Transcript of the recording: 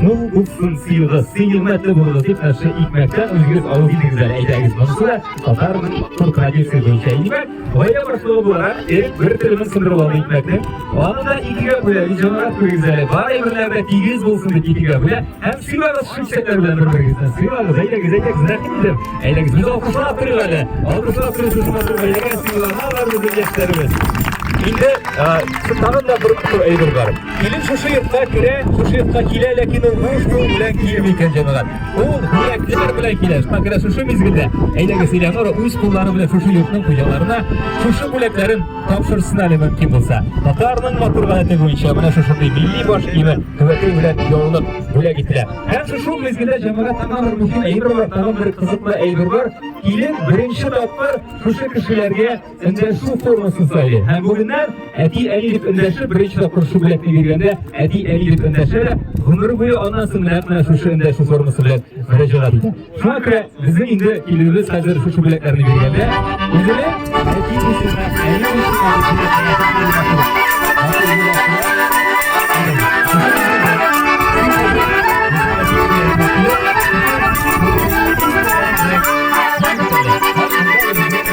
Ну, уксын сыйгы, сый нигмәтле булды дип, нәрсә икмәктән үзегез алу идегез әле әйтәгез. Монысы да татар тур традиция буенча икмәк. Гаилә башлыгы буларак, ир бер телемен сындырып алды икмәкне. Аны да икегә бүлә, визионрак күрегез әле. Бар әйберләрдә тигез булсын дип икегә бүлә. Һәм сыйлагыз шүксәкләр белән бер-берегезне. Сыйлагыз, әйдәгез, әйдәгез, рәхим итеп. Әйдәгез, без алкышлап торыйк әле. Алкышлап торыйк, сез матур бәйләгән сыйларга бар безнең яшьләребез. Инде, тагын да бер әйбер бар. Килен шушы йортка керә, шушы йортка килә, ләкин ул буш кул белән килми икән, җәмәгать. Ул бүләкләр белән килә. Шуңа күрә шушы мизгелдә, әйдәгез, Элеонора үз куллары белән шушы йортның хуҗаларына шушы бүләкләрен тапшырсын әле мөмкин булса. Татарның матур гадәте буенча менә шушындый милли баш киеме түбәтәй белән яулык бүләк ителә. Һәм шушы мизгелдә җәмәгать тагын бер мөһим әйбер бар, тагын бер кызыклы әйбер бар. Килен беренче тапкыр шушы кешеләргә Эндәшү формасы сайлый. Һәм бүгеннән әти әни дип эндәшеп, беренче тапкыр шул белән биргәндә әти әни дип эндәшә дә, гомер буе аннан соң менә менә шушы эндәшү формасы белән мөрәҗәгать итә. Шуңа күрә безнең инде килүебез хәзер шушы бүләкләрне биргәндә үзенә әти исеме, әни исеме,